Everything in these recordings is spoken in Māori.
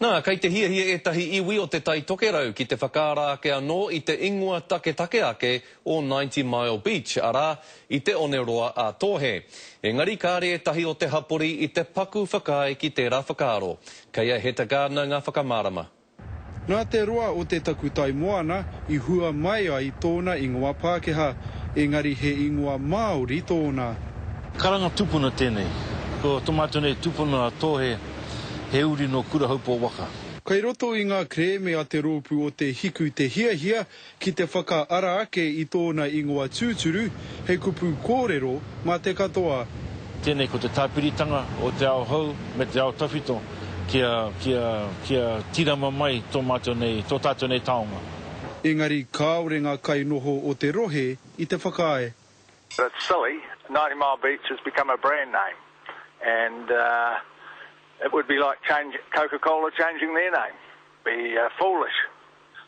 Nā, kei te hiahia ētahi iwi o Te Tai Tokerau ki te whakaara ake anō i te ingoa taketake ake o Ninety Mile Beach, arā, i te one roa a Tōhe. Engari kāre ētahi o te hapori i te paku whakaae ki tērā whakaaro. Kei a Heta Gardiner ngā whakamārama. Nā te roa o te takutai moana i hua mai ai tōna ingoa Pākehā, engari he ingoa Māori tōna. Karanga tupuna tēnei. Ko tō mātou nei tupuna a Tōhe, he uri nō Kurahaupō waka. Kei roto i ngā kerēme a te rōpū o Te Hiku te hiahia Ki te whakaara ake i tōna ingoa tūturu, he kupu kōrero mā te katoa. Tēnei ko te tāpiritanga o te ao hou me te ao tawhito kia, kia, kia tīrama mai tō mātou nei, tō tātou nei taonga. Engari kāore ngā kainoho o te rohe i te whakaae. But it's silly, Ninety Mile Beach has become a brand name and it would be like change, Coca Cola changing their name, be foolish.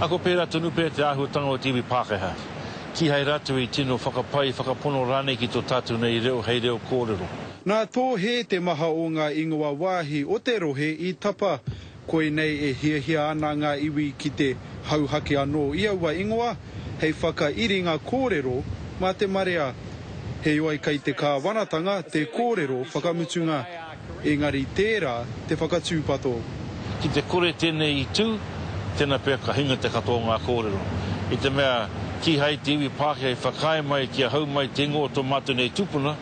Ako pērā tonu pea te āhuatanga o te iwi Pākehā. Kīhai rātou i tino whakapai, whakapono rānei ki tō tātou nei reo hei reo kōrero. Nā tō hē te maha o ngā ingoa wāhi o te rohe i tapa. Koinei e hiahia ana ngā iwi ki te hauhake anō i aua ingoa hei whakairinga kōrero mā te marea. Heoi kei te kāwanatanga te kōrero whakamutunga. Engari tērā te whakatūpato. Ki te kore tēnei i tū, tēnā pea ka hinga te katoa o ngā kōrero. I te mea, kīhai te iwi Pākehā i whakaae mai kia hau mai te ingoa o tō mātou nei tūpuna,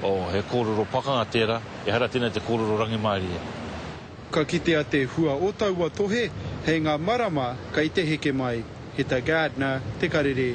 oh, he kōrero pakanga tērā, ehara tēnei te kōrero rangimārie. Ka kitea te hua o taua tohe, hei ngā marama kei te heke mai. He ta Gardner te karere.